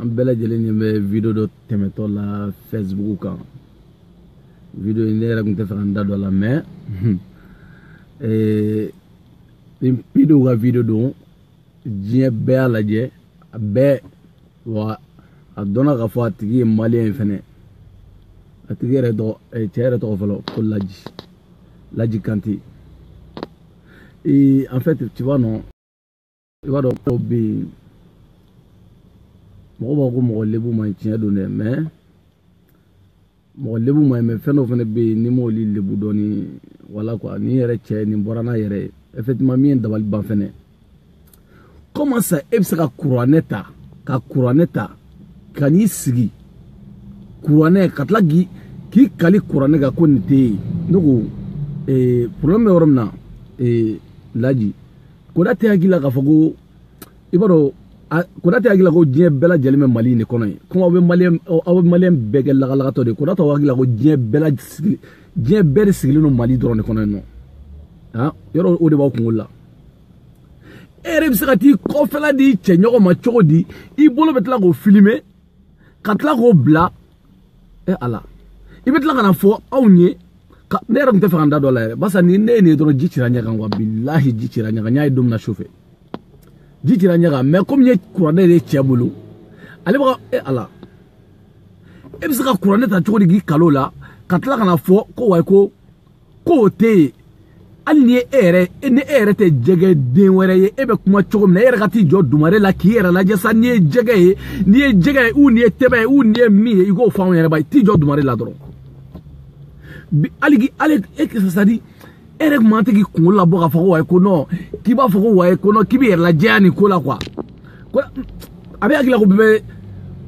an bɛɛ lajɛlen ɲɛ bɛ video dɔ tɛmɛtɔ la facebook kan video in ne yɛrɛ tun t'a fɛ ka n da don a la mɛ eh, ni pedew ka video don diɲɛ bɛɛ y'a lajɛ a bɛɛ wa a dɔnna k'a fɔ a tigi ye maliyɛn ye fɛnɛ a tigi yɛrɛ tɔgɔ eh, cɛ yɛrɛ tɔgɔ fɔlɔ ko laji laji kante en fait tu vois non i b'a dɔn dɔw bɛ yen mɔgɔ b'a ko mɔgɔ lebu man ɲi tiɲɛ don dɛ mɛ mɔgɔ lebu man ɲi mɛ fɛn dɔw fana bɛ yen n'i m'olu lebu dɔɔni wala kuwa ni yɛrɛ cɛ nin bɔra n'a yɛrɛ ye effectivement min ye n dabali ban fɛnɛ kɔmi sa e bɛ se ka kuranɛ ta ka kuranɛ ta ka n'i sigi kuranɛ ka tila k'i k'i kali kuranɛ kan ko nin tɛ yen ne ko ee problème bɛ yɔrɔ min na ee laji koda tɛ hakili la k'a fɔ ko i b'a dɔn koda tɛ hakili la ko diɲɛ bɛɛ lajɛlen bɛ mali in de kɔnɔ yen komi aw bɛ maliyɛn aw bɛ maliyɛn bɛɛ kɛ lagalagatɔ de ye koda tɛ hakili la ko diɲɛ bɛɛ sigi diɲɛ bɛɛ de sigilen don mali dɔrɔn de kɔnɔ yen nɔ han yɔrɔ o de b'aw kunkolo la e yɛrɛ bɛ se ka t'i kɔfɛla di i cɛɲɔgɔn ma cogo di i bolo bɛ tila k'o filime ka tila k'o bila e ala i bɛ tila ka n'a fɔ anw ye ne yɛrɛ tun t'a fɛ ka n da don a la yɛrɛ barisa ni ne ye nin ye dɔrɔn ji cira ɲɛ kan wa bilahi ji cira ɲɛ kan n y'a ye don min na su fɛ ji cira ɲɛ kan mɛ komi n ye kuranɛ de cɛ bolo ale bɛ ka e ala e bɛ se ka kuranɛ ta cogo di k'i kali o la ka tila ka n'a fɔ ko wayi ko k'o tɛ yen hali ni e yɛrɛ ni e yɛrɛ tɛ jɛgɛ den wɛrɛ ye e bɛ kuma cogo min na e yɛrɛ ka t'i jɔ dumare la k'i yɛrɛ lajɛ sa n'i ye jɛgɛ ye n'i ye jɛgɛ ye u n'i ye tɛbɛ ye u n'i ye min ye i k'o fɔ anw yɛrɛ ba ye t'i jɔ dumare la dɔrɔn bi hali ki hali e kisa sadi e yɛrɛ tun man kan k'i kunkolo labɔ k'a fɔ ko wayi ko nɔn k'i b'a fɔ ko wayi ko nɔn k'i b'i yɛrɛ lajɛya nin ko la kuwa ko a b'i hakili la ko bɛɛ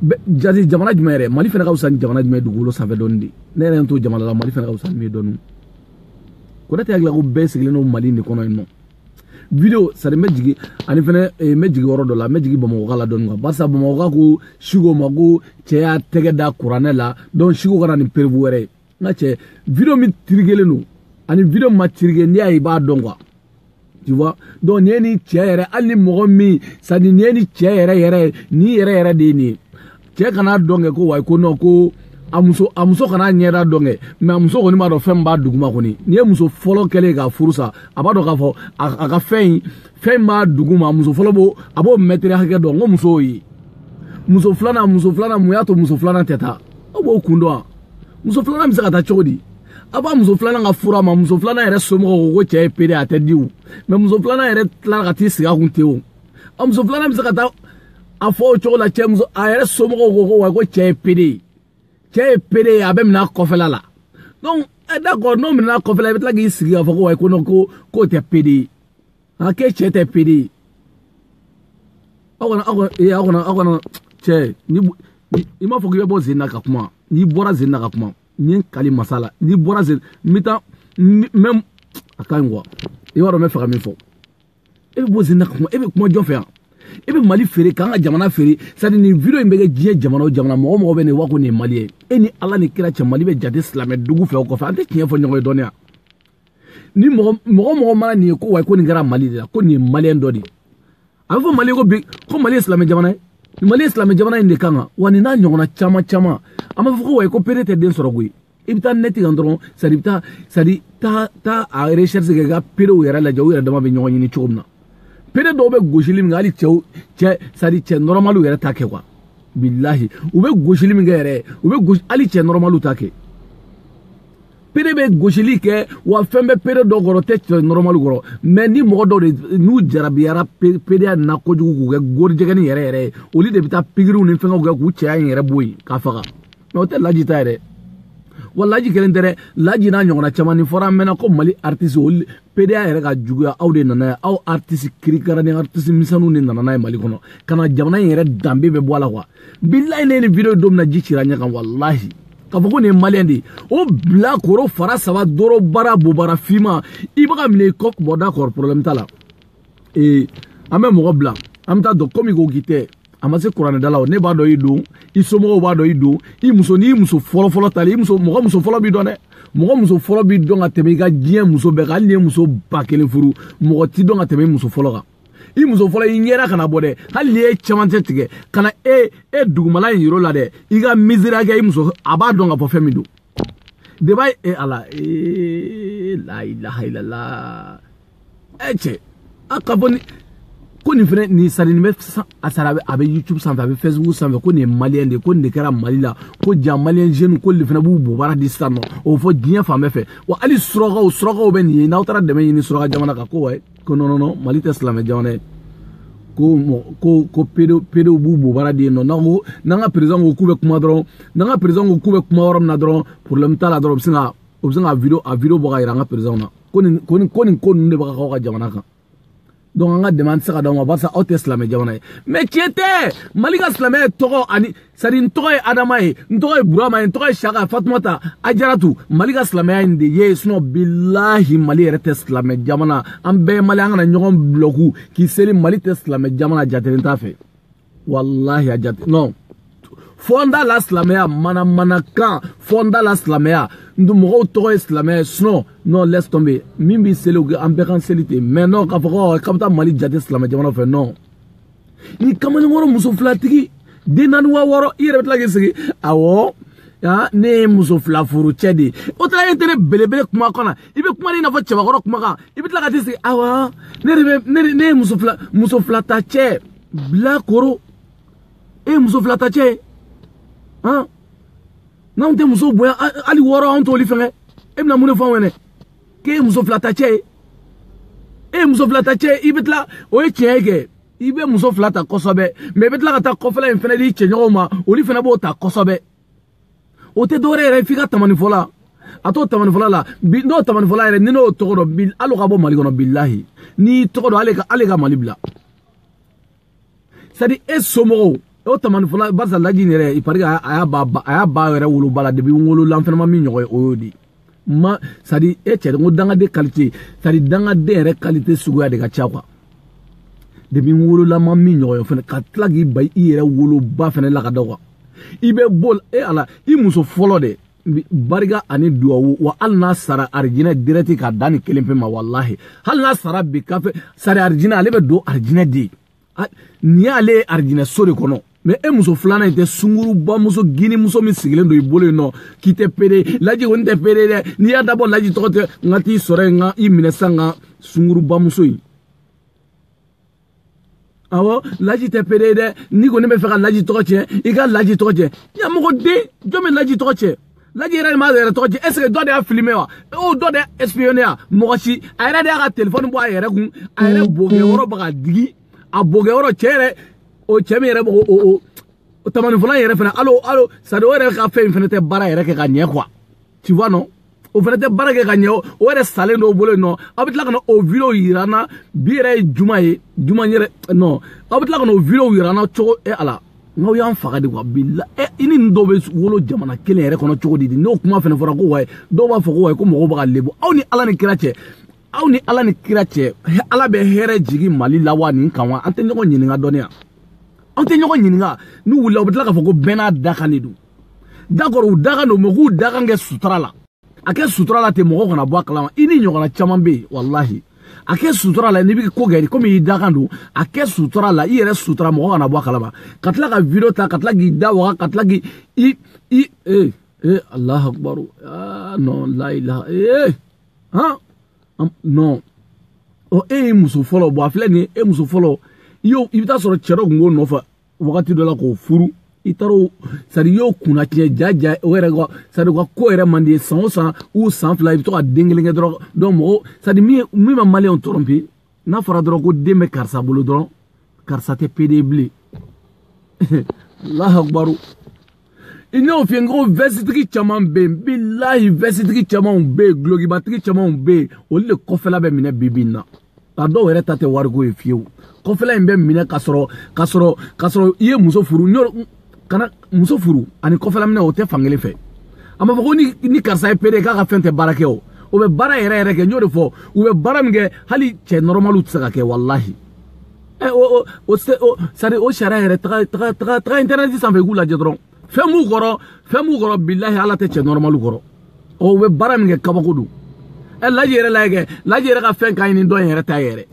bɛ jate jamana jumɛn yɛrɛ mali fana ka fisa ni jamana jumɛn ye dugukolo sanfɛ dɔɔni de ne yɛrɛ to jamana la mali fana ka fisa ni dɔɔni kɔrɔtɛ hakili ko bɛɛ sigilen don mali de kɔnɔ yen nɔ video sari n bɛ jigin ani fɛnɛ n bɛ jigin yɔrɔ dɔ la n bɛ jigin bamakɔkaw la dɔɔni barisa bamakɔkaw ko siko ma ko cɛ y'a tɛgɛ da kuranɛ la donc siko ka na ni preuve wɛrɛ ye nka cɛ video min tirikelen don ani video min ma tirike n'i y'a ye i b'a dɔn kuwa tu vois donc nin ye ni cɛ yɛrɛ hali ni mɔgɔ min sadi nin ye ni cɛ yɛrɛ yɛrɛ ni yɛrɛ yɛrɛ de ye nin ye cɛ kana dɔn kɛ ko wayi ko non ko a muso a muso kan'a ɲɛda dɔn kɛ mɛ a muso kɔni b'a dɔn fɛn min b'a duguma kɔni n'i ye muso fɔlɔ kɛlen k'a furu sa a b'a dɔn k'a fɔ a ka fɛn in fɛn min b'a duguma muso fɔlɔ b'o a b'o mɛtiri hakɛ dɔn n ko muso y'o ye muso filanan muso filanan mun y'a to muso filanan tɛ taa aw b'o kun dɔn wa muso filanan bɛ se ka taa cogo di a b'a muso filanan ka fura ma muso filanan yɛrɛ somɔgɔw ko ko cɛ ye pede a tɛ di o mɛ muso filanan yɛrɛ tilala ka t'i sigi a kun ten o a muso filanan bɛ se ka taa a fɔ o cogo la cɛ muso a yɛrɛ somɔgɔw ko ko wa ko cɛ ye pede ye cɛ ye pede ye a bɛ minɛ a kɔfɛla la donc ɛ d'accord n'o minɛ a kɔfɛla i bɛ tila k'i sigi k'a fɔ ko wa ko non ko k'o tɛ pede ye a k'e cɛ tɛ pede ye aw kana aw kana ee aw kana aw kana cɛ ni i m'a fɔ k'i bɛ bɔ scène na ka kuma n'i bɔra scène na ka kuma n ye n kali masa la n'i bɔra scène n bɛ taa n bɛ a ka ɲi kuwa i b'a dɔn n bɛ fɛ ka min fɔ e bɛ bɔ scène na ka kuma e bɛ kuma jɔn fɛ yan e bɛ mali feere k'an ka jamana feere sadi nin video in bɛ kɛ diɲɛ jamana o jamana mɔgɔ mɔgɔ bɛ nin wa ko nin ye mali ye e ni ala ni kira cɛ mali bɛ jate silamɛ dugu fɛ o kɔfɛ an tɛ tiɲɛ fɔ ɲɔgɔn ye dɔɔnin ya ni mɔgɔ mɔgɔ mɔgɔ mana nin ye ko wayi ko nin kɛra mali de la ko nin ye maliyɛn dɔ de ye a bɛ fɔ mali ko bi ko mali ye silamɛ jamana ye mali ye silamɛ jamana in de kan kan wa nin n'a ɲɔgɔnna caman caman an b'a fɔ ko wayi ko pede tɛ den sɔrɔ koyi i bɛ taa nɛti kan dɔrɔn sadi i bɛ taa sadi taa taa a recherche kɛ ka pedew yɛrɛ lajɛ u yɛrɛ dama bɛ ɲɔgɔn ɲini cogo min na pede dɔw bɛ gosili min kɛ hali cɛw cɛ sadi cɛ nɔrɔmaliw yɛrɛ t'a kɛ kuwa bilahi u bɛ gosili min kɛ yɛrɛ u bɛ gosi hali cɛ nɔrɔmaliw t'a kɛ pede bɛ gosili kɛ wa fɛn bɛ pede dɔ kɔrɔ tɛ cɛ nɔrɔmali kɔrɔ mɛ ni mɔgɔ dɔw de n'u jarabiyara pedeya la kojugu k'u kɛ gorijigɛni yɛrɛ yɛrɛ ye olu de bɛ taa pikiriw ni fɛnkɛw kɛ k'u cɛya in yɛrɛ bɔ yen k'a faga mɛ o tɛ laji ta yɛrɛ wa laji kelen tɛ dɛ laji n'a ɲɔgɔnna caman ni fɔra an mɛnna ko mali aritisi olu pedeya yɛrɛ ka juguya aw de nana n'a ye aw aritisi kirikara ni aritisi misɛnninw de nana n'a ye mali kɔnɔ ka na jamana in yɛrɛ danbe bɛɛ bɔ a la kuwa bilayi ne ni video don min na ji cira ɲɛ kan walahi k'a fɔ ko nin ye maliyɛn de ye o bila koro fara saba doro bara bobara finman i bɛ ka minɛ i kɔ boda kɔrɔ porobilɛmu t'a la ee an bɛ mɔgɔ bila an bɛ t'a dɔn komi ko k'i tɛ a ma se kuranɛdala o ne b'a dɔn i don i somɔgɔw b'a dɔn i don i muso n'i muso fɔlɔfɔlɔ tali i muso mɔgɔ muso fɔlɔ b'i dɔn dɛ mɔgɔ muso fɔlɔ b'i dɔn ka tɛmɛ i ka diɲɛ muso bɛɛ kan hali n'i ye muso ba kelen furu mɔgɔ t'i dɔn ka tɛmɛ i muso fɔlɔ kan i muso fɔlɔ i ɲɛda kana bɔ dɛ hali n'i ye camancɛ tigɛ ka na e e dugumala in yira a la dɛ i ka misiriya kɛ i muso a b'a dɔn ka fɔ fɛn min don deba e ala ee la ilaha illallah ɛ cɛ a ka fɔ ni ko nin fɛnɛ nin sadi nin bɛ a sara a bɛ youtube sanfɛ a bɛ facebook sanfɛ ko nin ye maliyɛn de ye ko nin de kɛra mali la ko ja maliyɛn jeune ko nin fɛnɛ b'u bobara di sisan nɔ o fɔ diɲɛ fan bɛɛ fɛ wa hali surakaw surakaw bɛ nin ye n'aw taara dɛmɛ ɲini suraka jamana kan ko wayi ko nɔnɔnɔ mali tɛ silamɛ jamana ye ko mɔ ko ko pede pedew b'u bobara di yen nɔ n'an ko n'an ka perezan ko k'u bɛ kuma dɔrɔn n'an ka perezan ko k'u bɛ kuma yɔrɔ min na dɔrɔn porobilɛmu t'a la dɔrɔn u bɛ sin ka u bɛ sin ka video a video bɔ k'a yira an ka perezanw na ko nin ko nin ko nin ko ninnu de bɛ ka k'aw ka jamana kan donc an ka dɛmɛ an tɛ se k'a d'aw ma barisa aw tɛ silamɛ jamana ye mɛ tiɲɛ tɛ mali ka silamɛya tɔgɔ ani sadi n tɔgɔ ye adama ye n tɔgɔ ye burama ye n tɔgɔ ye saka fatumata ajaratu mali ka silamɛya in de ye sinɔ bilahi mali yɛrɛ tɛ silamɛ jamana an bɛɛ ye mali an kana ɲɔgɔn bulɔku k'i seli mali tɛ silamɛ jamana jatelen t'a fɛ walahi a jate non fɔnda la silamɛya mana mana kan fɔnda la silamɛya n tun mɔgɔw tɔgɔ ye silamɛya ye sinɔ non laisse tomber min b'i seli o an bɛɛ ka seli ten mais non k'a fɔ ko k'a bɛ taa mali jate silamɛ jamana fɛ non ni kamalenkɔrɔ muso filatigi den naani wa wɔɔrɔ i yɛrɛ bɛ tila k'i sigi awɔ aa ne ye muso fila furu cɛ de ye o taara e tɛ ne belebele kuma kan na i bɛ kuma de i n'a fɔ cɛbakɔrɔ kuma kan i bɛ tila ka t'i sigi awɔ ne de bɛ ne de ne ye muso fila muso fila ta cɛ bilakoro e ye muso fila ta cɛ ye han n'anw tɛ muso bonya hali wɔɔrɔ anw t'olu fɛngɛ e bɛna mun de fɔ anw ɲɛna k'e ye muso filata cɛ ye e ye muso filata cɛ ye i bɛ tila o ye tiɲɛ ye kɛ i bɛ muso fila ta kosɛbɛ mɛ i bɛ tila ka taa kɔfɛla in fana di cɛɲɔgɔnw ma olu fana b'o ta kosɛbɛ o tɛ dɔwɛrɛ yɛrɛ f'i ka tamanifɔla a to o tamanifɔla la bi n'o tamanifɔla yɛrɛ ni n'o tɔgɔ dɔn bi hali o ka bɔ mali kɔnɔ bilahi n'i y'i tɔgɔ dɔn ale ka ale ka mali bila sadi e somɔgɔw o tamanifɔla barisa laji in yɛrɛ il paraît a y'a ba a y'a ba yɛrɛ woloba la depi n wolola n fɛnɛ ma min ɲɔgɔn ye o y'o de ma sadi e cɛ ko dangaden kalite sadi dangaden yɛrɛ kalite suguya de ka ca kuwa depi n wolola n ma min ɲɔgɔn ye fɛnɛ ka tila k'i ba i yɛrɛ woloba fɛnɛ lakada kuwa i bɛ bɔ e ala i muso fɔlɔ de barika ani duwawu wa hali n'a sara arijinɛ dirɛti ka da nin kelen pe ma walahi hali n'a sara bi kafe sari arijinɛ ale bɛ don arijinɛ de ye nin y'ale ye arijinɛ so de kɔnɔ mɛ e muso filanan in tɛ sungurubamuso gine muso min sigilen don i bolo yen non k'i tɛ pere laji kɔni tɛ pere dɛ n'i y'a dabɔ laji tɔgɔ tiɲɛ n ka t'i sɔrɔ yen n ka i minɛ sisan ka sungurubamuso in awɔ laji tɛ pere ye dɛ n'i kɔni bɛ fɛ ka laji tɔgɔ tiɲɛ i ka laji tɔgɔ tiɲɛ ɲamɔgɔden jɔn bɛ laji tɔgɔ tiɲɛ laji yɛrɛ de b'a yɛrɛ tɔgɔ tiɲɛ ɛseke dɔ de y'a filime wa o dɔ de y'a espionné wa mɔgɔ si a yɛrɛ de y'a ka telefɔni bɔ a yɛrɛ kun a yɛrɛ bokɛyɔrɔ bɛ ka digi a bokɛyɔrɔ cɛ yɛrɛ o cɛ min yɛrɛ bɛ o o tamanifɔla yɛrɛ fana hali o hali o sadi o yɛrɛ ka fɛn in fana tɛ baara yɛrɛ kɛ ka ɲɛ kuwa. tu vois non o fana tɛ baara kɛ ka ɲɛ o yɛrɛ salen don o bolo yen non aw bɛ tila ka na o video yira n na bi yɛrɛ ye juma ye juma yɛrɛ non aw bɛ tila ka na o video yira n na cogo e ala n'aw y'an faga de wa bila ɛ i ni nin dɔw bɛ wolo jamana kelen yɛrɛ kɔnɔ cogo di n'o kuma fana fɔra ko wayi dɔw b'a fɔ ko wayi ko mɔgɔw bɛ ka lebu aw ni ala ni kira cɛ aw ni ala ni kira cɛ ala bɛ hɛrɛ jigin mali la wa nin kan wa an tɛ ɲɔgɔn ɲininka dɔnniya an tɛ ɲɔgɔn ɲininka n'u wulila u bɛ tila k'a fɔ ko bɛɛ n'a dakan de don d'accord u dakan don mɛ k'u dakan kɛ sutura la a kɛ sutura la ten mɔgɔ kana bɔ a kalama i ni ɲɔgɔnna caman bɛ yen walahi a kɛ sutura la n'i bɛ ko kɛ komi i dakan don a kɛ sutura la i yɛrɛ sutura mɔgɔ kana bɔ a kalama ka tila ka video ta ka tila k'i da waga ka tila k'i i i ee ee alahu akubaru aa non la ilaha ee han non ɔ e ye muso fɔlɔ bɔn a filɛ nin ye e muso fɔlɔ i y'o i bɛ t'a sɔrɔ cɛ dɔ tun b'o nɔfɛ wagati dɔ la k'o furu i taar'o sadi y'o kunna tiɲɛ ja ja o yɛrɛ sadi u ka ko yɛrɛ man di i ye san o san u san fila i bɛ to ka den kelen kɛ dɔrɔn dɔn mɔgɔ sadi min min ma maliyɛnw tɔɔrɔ bi n'a fɔra dɔrɔn ko den bɛ karisa bolo dɔrɔn karisa tɛ pede bilen alahu akubaru i n'o fiyɛ n ko vɛsitigi caman bɛ yen bilahi vɛsitigi camanw bɛ yen dulokibatigi camanw bɛ yen olu de kɔfɛla bɛ minɛ bi bi in na a dɔw yɛrɛ ta tɛ wariko ye fiyewu kɔfɛla in bɛ minɛ ka sɔrɔ ka sɔrɔ ka sɔrɔ i ye muso furu nka muso furu ani kɔfɛla minɛ o tɛ fan kelen fɛ a ma fɔ ko ni ni karisa ye pede k'a ka fɛn tɛ baara kɛ o o bɛ baara yɛrɛ yɛrɛ kɛ n y'o de fɔ u bɛ baara min kɛ hali cɛ nɔrɔmaliw tɛ se k'a kɛ walahi ɛ eh, o o o sari o sariya yɛrɛ taga taga taga taga intɛrɛnɛti sanfɛ i k'u lajɛ dɔrɔn fɛn b'u kɔrɔ fɛn b'u kɔrɔ bilahi ala tɛ cɛ nɔrɔmali kɔrɔ ɔ u bɛ baara min kɛ kabako don ɛ eh, laji yɛrɛ la kɛ laji yɛrɛ ka fɛn ka ɲi ni dɔ in yɛrɛ ta yɛrɛ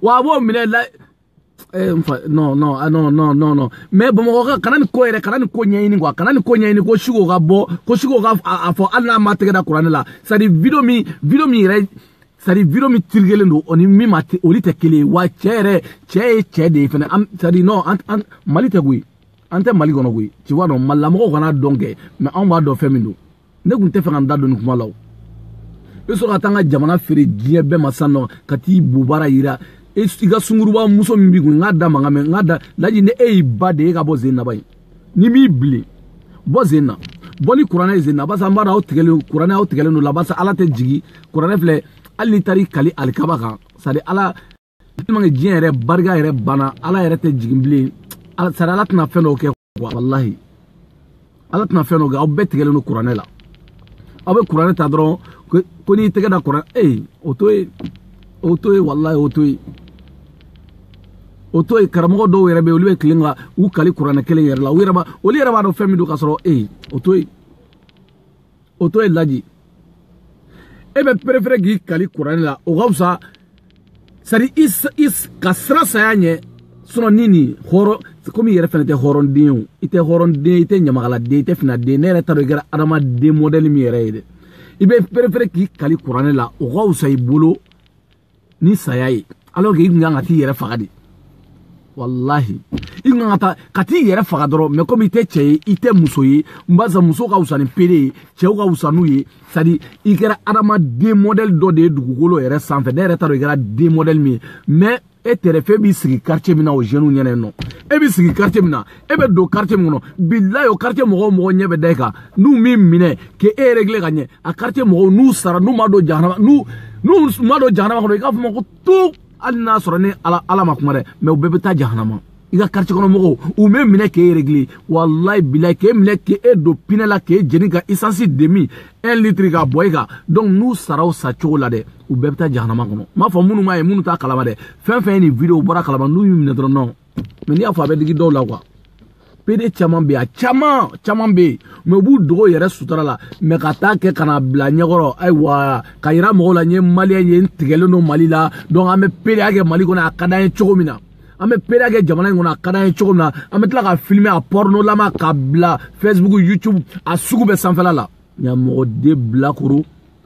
wa a b'o minɛ la ɛ eh, n fa non non ah, non non non non mɛ bamakɔkaw kana nin ko yɛrɛ kana nin ko ɲɛɲini kuwa kana nin ko ɲɛɲini ko siko ka bɔ ko siko ka a fɔ hali n'a m'a tɛgɛ da kuranɛ la c'est à dire video min video min yɛrɛ sari video min tirikelen don o ni min ma olu tɛ kelen ye wa cɛ yɛrɛ cɛ ye cɛ de ye fɛnɛ an sari non an an mali tɛ koyi an tɛ mali kɔnɔ koyi i b'a dɔn malilamɔgɔw kana dɔn kɛ mɛ anw b'a dɔn fɛn min don ne tun tɛ fɛ ka n da don nin kuma la o i bɛ sɔrɔ ka taa n ka jamana feere diɲɛ bɛɛ ma sisan nɔ ka t'i bobara yira i ka sungurunba muso min b'i kun n k'a da mankan mɛn n k'a da laji ni e y'i ba den ye e ka bɔ zenaba ye ni m'i bilen bɔ sen na bɔ ni kuranɛ ye sen na barisa an b'a dɔn aw tigɛlen kuranɛ aw tigɛlen don a la barisa ala tɛ jigin kuranɛ filɛ hali n'i taara i kali alikaba kan sadi ala tɛmɛ diɲɛ yɛrɛ barika yɛrɛ banna ala yɛrɛ tɛ jigin bilen sadi ala tɛna fɛn dɔw kɛ walahi ala tɛna fɛn dɔw kɛ aw bɛɛ tigɛlen don kuranɛ la aw bɛ kuranɛ ta dɔrɔn ko n'i tɛgɛ da kuranɛ ee o to yen o to yen walahi o to yen o to yen karamɔgɔ dɔw yɛrɛ bɛ olu bɛ tilen ka u kali kuranɛ kelen yɛrɛ la u yɛrɛ b'a olu yɛrɛ b'a dɔn fɛn min don ka sɔrɔ e ye o to yen o to yen laji e bɛ perefere k'i kali kuranɛ la o ka fisa sari i i ka siran saya ɲɛ sinɔn ni nin hɔrɔn komi i yɛrɛ fɛnɛ tɛ hɔrɔnden ye o i tɛ hɔrɔnden i tɛ ɲamakaladen i tɛ finaden ne yɛrɛ t'a dɔn i kɛra adamaden mɔdɛli min yɛrɛ ye dɛ i bɛ perefere k'i kali kuranɛ la o ka fisa i bolo ni saya ye alors que i kun kan ka t'i yɛrɛ faga de walahi i kun kan ka taa ka t'i yɛrɛ faga dɔrɔn mɛ komi i tɛ cɛ ye i tɛ muso ye n b'a sɔrɔ muso ka wusa ni pede ye cɛ ka wusa n'i ye sadi i kɛra adamaden mɔdɛli dɔ de ye dugukolo yɛrɛ sanfɛ ne yɛrɛ t'a dɔn i kɛra den mɔdɛli min ye mɛ e tɛrɛfɛ b'i sigi quartier min na o jeunes ɲɛna yen nɔ e b'i sigi quartier min na e bɛ don quartier min kɔnɔ bilayi o quartier mɔgɔw mɔgɔ ɲɛ bɛ da i kan n'u m'i minɛ k'e régler ka ɲɛ a quartier mɔgɔw n'u sara n'u ma don jahanama n'u n'u ma don jahanama kɔnɔ i k'a fɔ n ma ko tuu hali n'a sɔrɔ ni ala ala ma kuma dɛ mɛ u bɛɛ bɛ taa jahanama i ka quartier kɔnɔ mɔgɔw u b'e minɛ k'e régler walayi bilayi k'e minɛ k'e don pinɛ la k'e jeni ka essence demi un litre ka bɔn i kan donc n'u sara o sa cogo la dɛ u bɛɛ bɛ taa jahanama kɔnɔ n b'a fɔ minnu m'a ye minnu t'a kalama dɛ fɛn fɛn ye nin video bɔra kalama n'u y'u minɛ dɔrɔn non mɛ n'i y'a fɔ a bɛ digi dɔw la kuwa pede caman bɛ yen a caman caman bɛ yen mɛ u b'u dogo yɛrɛ sutura la mɛ ka t'a kɛ ka n'a bila ɲɛkɔrɔ ayiwa ka yira mɔgɔw la n ye maliyɛn ye n tigɛlen don mali la donc an bɛ pereya kɛ mali kɔnɔ a ka d'an ye cogo min na an bɛ pereya kɛ jamana in kɔnɔ a ka d'an ye cogo min na an bɛ tila ka filime a pɔrɔnɔlama ka bila facebook youtube a sugu bɛɛ sanfɛla la nka mɔgɔ de bilakoro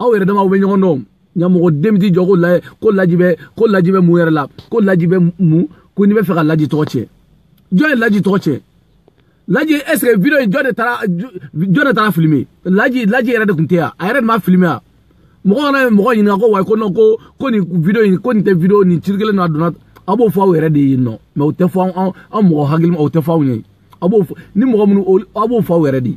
aw yɛrɛ damaw bɛ ɲɔgɔn dɔn nka mɔgɔ den ti jɔ ko laji ko laji bɛ ko laji bɛ mun yɛrɛ la ko laji bɛ mun ko n'i bɛ fɛ ka laji tɔgɔ tiɲɛ jɔn ye laji tɔgɔ tiɲɛ laji est ce que video in jɔn de taara jɔn de taara filime laji laji yɛrɛ de tun tɛ yan a yɛrɛ de ma filime yan mɔgɔ kana ye mɔgɔ ɲininka ko ayi ko non ko ko nin video in ko nin tɛ video nin ci kelen na a donna aw b'o fɔ aw yɛrɛ de ye nɔ mɛ o tɛ fɔ anw mɔgɔ hakilima o tɛ fɔ anw ye aw b'o fɔ ni mɔgɔ minnu aw b'o fɔ aw yɛrɛ de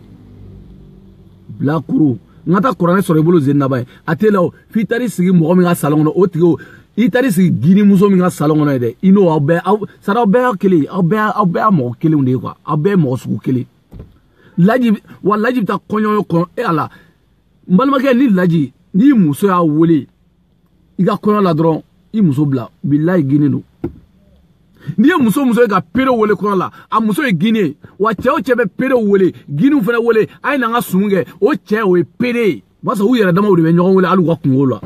bilakoro n ka taa kuranɛ sɔrɔ i bolo zen naba ye a tɛ la o f'i taar'i sigi mɔgɔ min ka salon kɔnɔ o tigi o i taar'i sigi gini muso min ka salon kɔnɔ ye dɛ i n'o aw bɛɛ aw sara aw bɛɛ y'a kelen ye aw bɛɛ aw bɛɛ y'a mɔgɔ kelenw de ye kuwa aw bɛɛ ye mɔgɔ sugu kelen laji wa laji bɛ taa kɔɲɔ kɔnɔ e ala n balimakɛ ni laji n'i muso y'a wele i ka kɔɲɔ la dɔrɔn i muso bila bilayi gini don n'i ye muso muso ye ka perew wele kɔɲɔ la a muso ye gini ye wa cɛ o cɛ bɛ perew wele giniw fana wele a ye na n ka sumu kɛ o cɛ o ye pere ye o b'a sɔrɔ u yɛrɛ damaw de bɛ ɲɔgɔn wele hali u ka kunko la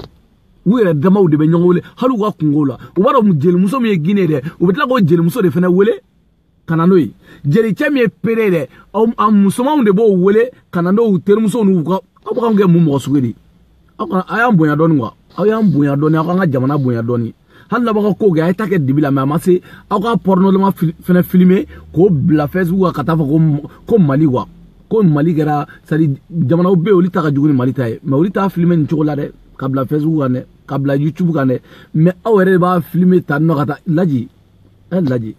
u yɛrɛ damaw de bɛ ɲɔgɔn wele hali u ka kunko la u b'a dɔn jelimuso min ye gini ye dɛ u bɛ tila k'o jelimuso de fana wele ka na n'o ye jelicɛ min ye pere ye dɛ a musomanw de b'o wele ka na n'o terimuso n'u ka aw bɛ k'anw kɛ mun mɔgɔ sugu de ye aw kana a y'an bonya dɔɔni kuwa aw y'an bonya dɔɔni aw k'an ka jamana bonya dɔɔni hali n'aw ka kow kɛ a ye t'a kɛ dibi la mɛ a ma se aw ka pɔrɔnɔlama fɛnɛ filime k'o bila fɛsibuku kan ka taa fɔ ko ko mali kuwa ko mali kɛra sadi jamanaw bɛ yen olu ta ka jugu ni mali ta ye mɛ olu t'a filime nin cogo la dɛ ka bila fɛsibuku kan dɛ ka bila youtube kan dɛ mɛ aw yɛrɛ de b'a filime ta nɔ ka taa laji e laji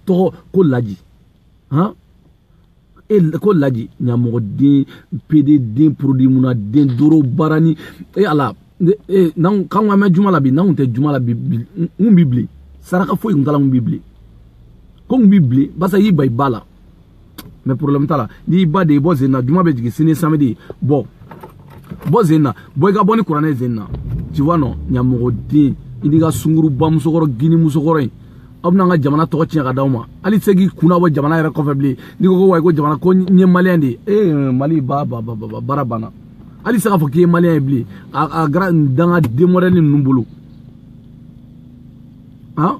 tɔgɔ ko laji han e ko laji ɲamɔgɔ den pede den porodi munna den doro baara ni e ala e n'anw k'anw ka mɛn juma la bi n'anw tɛ juma la bi bi n bi bilen saraka foyi kun t'a la n bi bilen ko n bi bilen barisa i y'i ba i ba la mais problème t'a la n'i ba de ye bɔ zen na juma bɛ jigin sini samedi bɔ bɔ zen na bɔ i ka bɔ ni kuranɛ ye zen na tu vois non ɲamɔgɔden i n'i ka sunguruba musokɔrɔnin musokɔrɔ in aw bɛna an ka jamana tɔgɔ tiɲɛ ka d'aw ma hali i tɛ se k'i kunna bɔ jamana yɛrɛ kɔfɛ bilen n'i ko ko ouais ko jamana ko n ye maliyɛn de ye ee mali ba ba ba ba baara banna hali se k'a fɔ k'i ye maliyɛn ye bilen a a kɛra danga des modèles ninnu bolo han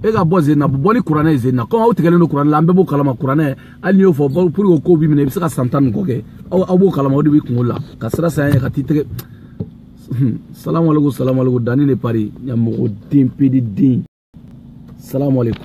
e ka bɔ zen na bɔ ni kuranɛ ye zen na kɔmi aw tigɛlen don kuranɛ la an bɛɛ b'o kalama kuranɛ hali n'i y'o fɔ procureur b'i minɛ i bɛ se ka san tan ni kɔ kɛ aw aw b'o kalama o de b'i kunkolo la ka siran saya ɲɛ ka t'i tɛgɛ salamaleko salamaleko danni de pari ɲamɔgɔ den pede den salamaleko